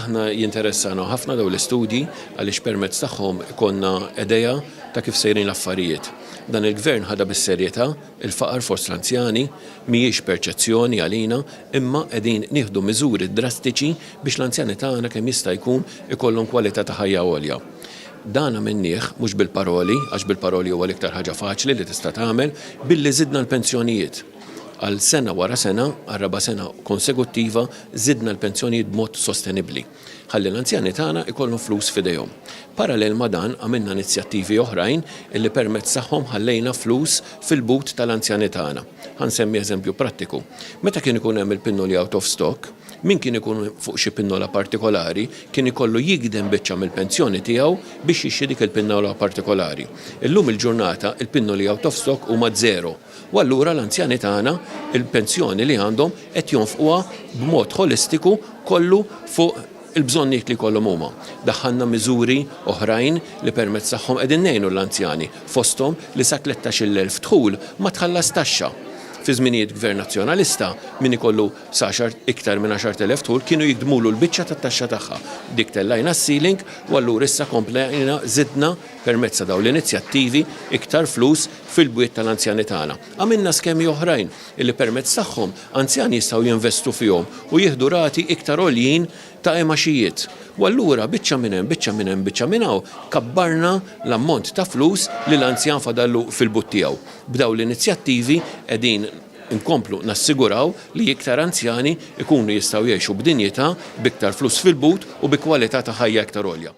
Aħna jinteressana ħafna daw l-istudji għaliex permezz tagħhom ikonna edeja ta' kif sejrin l-affarijiet. Dan il-gvern ħada bis-serjetà il-faqar fost l-anzjani mhijiex perċezzjoni għalina imma qegħdin nieħdu miżuri drastiċi biex l-anzjani tagħna kemm jista' jkun ikollhom kwalità ta' ħajja għolja. Dan għamilnieh mhux bil-paroli għax bil-paroli huwa l-iktar ħaġa faċli li tista' tagħmel billi żidna l-pensjonijiet. Għal sena wara sena, għar-raba' sena konseguttiva, żidna l-pensjonijiet b'mod sostenibbli, ħalli l-anzjani tagħna jkollhom flus f'idejhom. Parallel ma' dan, għamilna inizjattivi oħrajn li permezz tagħhom ħallejna flus fil-but tal-anzjani tagħna. Ħa nsemmi eżempju prattiku. Meta kien ikun hemm il-pinnoli out of stock, min kien ikun fuq xi pinnola partikolari kien ikollu jigdem biċċa mill-pensjoni tiegħu biex jixtri dik il-pinnola partikolari. Illum il-ġurnata, il-pinnoli out of stock huma żero. U allura l-anzjani tagħna, il-pensjoni li għandhom, qed jonfquha b'mod ħolistiku kollu fuq il-bżonnijiet li jkollhom huma. Daħħalna miżuri oħrajn li permezz tagħhom qegħdin ngħinu l-anzjani, fosthom li sa tlettax-il elf dħul ma tħallas taxxa. Fi żminijiet Gvern Nazzjonalista, min ikollu sa iktar minn għaxart elef dħul kienu jigdmulu l-biċċa tat-taxxa tagħha. Dik tellajna s-ceiling u allura issa komplejna żidna Permezz ta' dawn l-inizjattivi, iktar flus fil-bwiet tal-anzjani tagħna. Għamilna skemi oħrajn li permezz tagħhom anzjani jistgħu jinvestu fihom u jieħdu rati iktar għoljin ta' imgħaxijiet. U allura biċċa minn hemm, biċċa minn hemm, biċċa minn hawn, kabbarna l-ammont ta' flus li l-anzjan fadallu fil-but tiegħu. B'dawn l-inizjattivi qegħdin inkomplu nassiguraw li iktar anzjani jkunu jistgħu jgħixu b'dinjità, b'iktar flus fil-but u bi kwalità ta' ħajja iktar għolja.